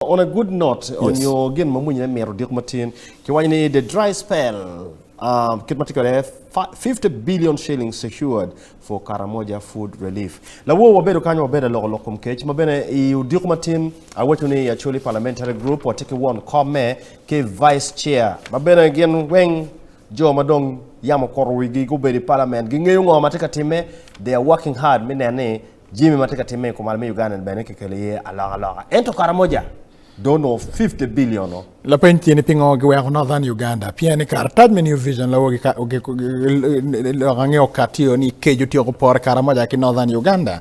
On a good note onyo gin ma mwinyine mito odiko matin, kiwaco ni the dry spell kit ma tye kwede 50 billion shillings secured for Karamoja food relief. Lawor wabedo kany wabedo aloko lok kom kec ma bene i odiko matin awaco ni Acholi Parliamentary Group watye ki won komme ki Vice Chair ma bene gin weng jo ma dong yam okuto wigi gubedo i Parliament gingeyo ngo ma tye ka timme they are working hard me neno ni Jimmy ma tye ka timme i kumalo me Uganda-ni bene kikelo iye alokaloka, ento Karamoja dong onongo fifty billion-o. Lapeny tye ni pingo giweko Northern Uganda? Pien ni karatac me New Vision loko lok ange okati o ni Kej otyeko pore Karamoja ki Northern Uganda.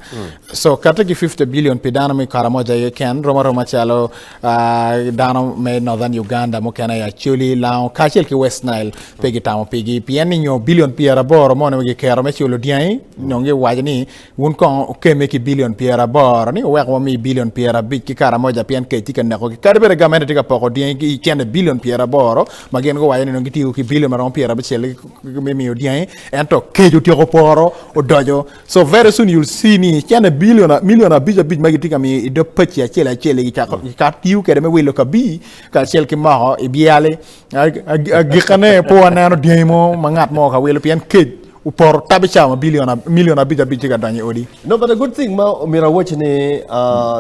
So kati ki fifty billion pi dano me Karamoja aye keken romo aroma calo dano me Northern Uganda mukene i Acholi, Lango kacel ki West Nile pe gitamo pigi. Pien ni nyo billion pyeraboro moni ma giketo me culo dyangi dong giwaco ni Wun kong wukemme ki bilion pyeraboro ni wuwek wami bilion pyerabic ki karamoja pien kec tye ka nekogi. Kadi bed gamente tye ka poko dyangi ki cente bilion pyeraboro ma gin guwaco ni dong gitiyo ki bilion maromo pyerabicel me miyo dyangi ento kec otyeko poro odoco. So very soon you'll see ni cente bilion milion abic abic ma gitye ka miyo i dog paci acel acel gicako gikato tiyo kwede me wilo kabii kacel ki moko i byali. Agikane pe waneno dyangi mo ma ngat mo ka wilo pien kec Opoto tabi cawa ma milion abic abic tye ka donyo i odi. No but a good thing ma omyero awaci ni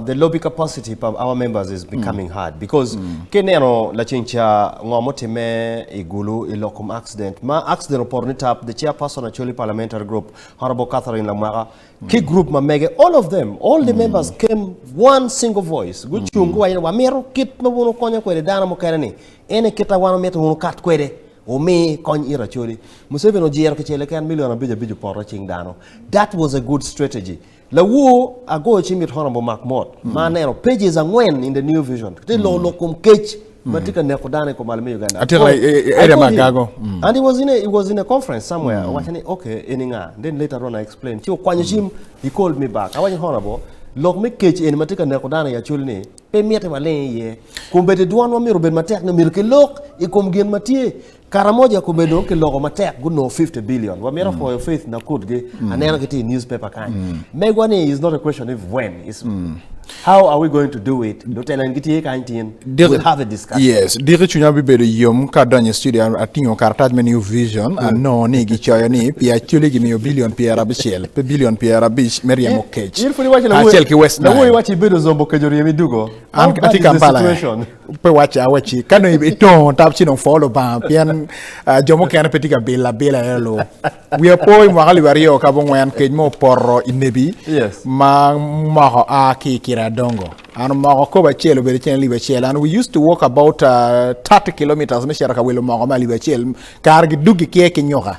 the lobby capacity pa our members is becoming hard because ka ineno laceng ca ngo ma otimme i Gulu i lok kom accident ma accident opoto ni tap the chair person Acholi parliamentary group Honourable Catherine Lamwaka ki group ma mege all of them all the members came one single voice gucung guwaco ni wamito kit ma wun wukonyo kwede dano mukene ni ene kit ma wan wamito wun wukat kwede Wumi kony it Acholi. Museveni ojiro kicel keken million abic abic opoto cing dano. That was a good strategy. Lawoo agoyo cing it Honourable Mark Mot ma aneno pages angwen in the New Vision tye loko lok kom kec ma tye ka neko dano i kom ali me Uganda. Atyeka Call- i- i- I area called ma him. Agago. Mm. And he was in a, he was in a conference somewhere. Awacho ni okay eni nga. Then later on I explained. Ci okwanyo cim. He called me back. Awacho ni Honourable lok me kec eni ma tye ka neko dano i Acholi ni pe mitte waling iye. Kun bene dwanwa myero obed matek ni myero kilok i kom gin ma tye. Karamoja kome dong kiloko matek gunongo 50 billion. Wamito mm. pwoyo Faith Nakutgi, mm. aneno ki ti i newspaper kany. Mm. Megwa ni is not a question of when. Is, mm. How are we going to do it? Lutelo en gitye kany tin. We'll have a discussion. Yes. Diki chunya bibedo yom ka donyo i studio atingo karatac me New Vision mm. anongo ni gicoyo ni pi acoli gimiyo bilion pyera abicel. pe bilion pyerabic me ryemo kec kacel ki West Nile. An atye Kampala eh, pe wacce awacci ka dong itongo tap ci dong pwo Lubanga pien ah, jo mukene pe tye ka bilo abila aye lu. Wiya po i mwaka alip aryo ka abongwen kec mo opoto i nebi Yes. ma moko a ki i kira adongo. An omoko kobo acel obedo cen alip acel and we used to walk about uh, 30 kilometres me cito ka wilo moko me alip acel kare gidug gikiye ki nyuka.